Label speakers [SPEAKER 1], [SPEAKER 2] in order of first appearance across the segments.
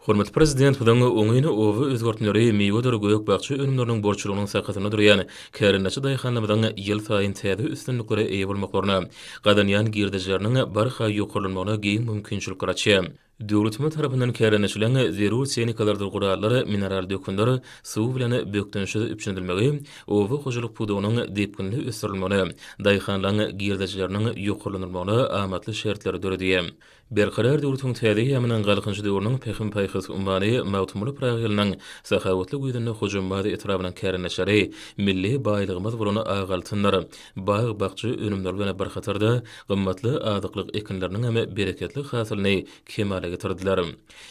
[SPEAKER 1] Hormatly Prezidentimiziň oňyn oba özgertmeleri miwedir gök-bakja önümleriniň bolçulygynyň sakasynda durýan kärendeçi daýhanlarymyzyň ýylsaýyn täze üstünliklere eýe bolmaklaryna, gazanýan girdejileriniň barha ýokarlanmagyna giň mümkinçilikler açýar. Döwletimiz tarapyndan kärendeçiligiň zerur tehnikalardyr gurallar, mineral dökünler, suw bilen bökdençsiz üpjün edilmegi oba hojalyk pudagynyň depginli ösdürilmegine, daýhanlaryň girdejileriniň ýokarlandyrylmagyna amatly şertleri döredýär. Berkarar döwletiň täze eýýamynyň Galkynyş döwrüniň Pähim-paýhas ummany Magtymguly Pyragy ýylynyň sahawatly güýzünde Hojambaz etrabynyň kärendeçileri milli baýlygymyz bolan ak altyndyr bag-bakja önümleri bilen bir hatarda gymmatly azyklyk ekinleriniňem bereketli hasylyny kemala getirdiler.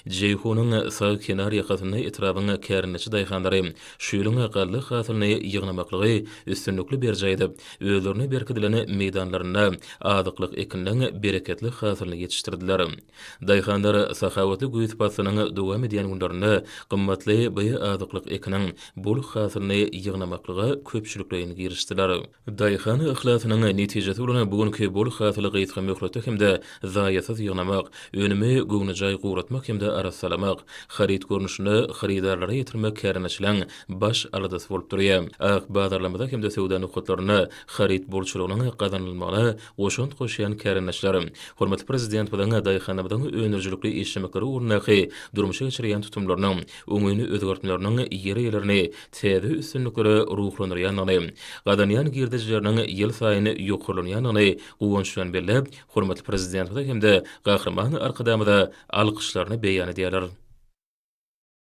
[SPEAKER 1] Jeýhunyň sag kenar ýakasynda etrabyň kärndeçi daýhanlary şu ýylyň galla hasylyny ýygnamaklygy üstünlikli berjaý edip, özlerine berkidilen meýdanlarynda azyklyk ekiniň bereketli hasylyny ýetişdirdiler. Daýhanlar sahawatly güýz paslynyň dowam edýän günlerinde gymmatly bioazyklyk ekiniň bol hasylyny ýygnamaklyga köpçülikleýin girişdiler. Daýhan yhlasynyň netijesi bolan bu günki bol hasyly gysga möhletde hem-de zaýasyz ýygnamak, önümi göwnejaý guratmak hem-de arassalamak, haryt görnüşinde hyrydarlara ýetirmek kärendeçiligiň baş aladasy bolup durýar. Ak bazarlarymyza hem-de söwda nokatlarynda haryt bolçulygynyň gazanylmagyna goşant goşýan kärendeçiler, hormatly Prezidentimiziň daýhanlarymyzyň öndürijilikli işlemekleri ugrundaky durmuşa geçirýän tutumlarynyň oňyn özgertmeleriniň ýer eýelerini täze üstünliklere ruhlandyrýandygyny, gazanýan girdejileriniň ýylsaýyn ýokarlanýandygyny guwanç bilen belläp, hormatly Prezidentimize hem-de Gahryman Arkadagymyza alkyşlaryny beýan edýärler.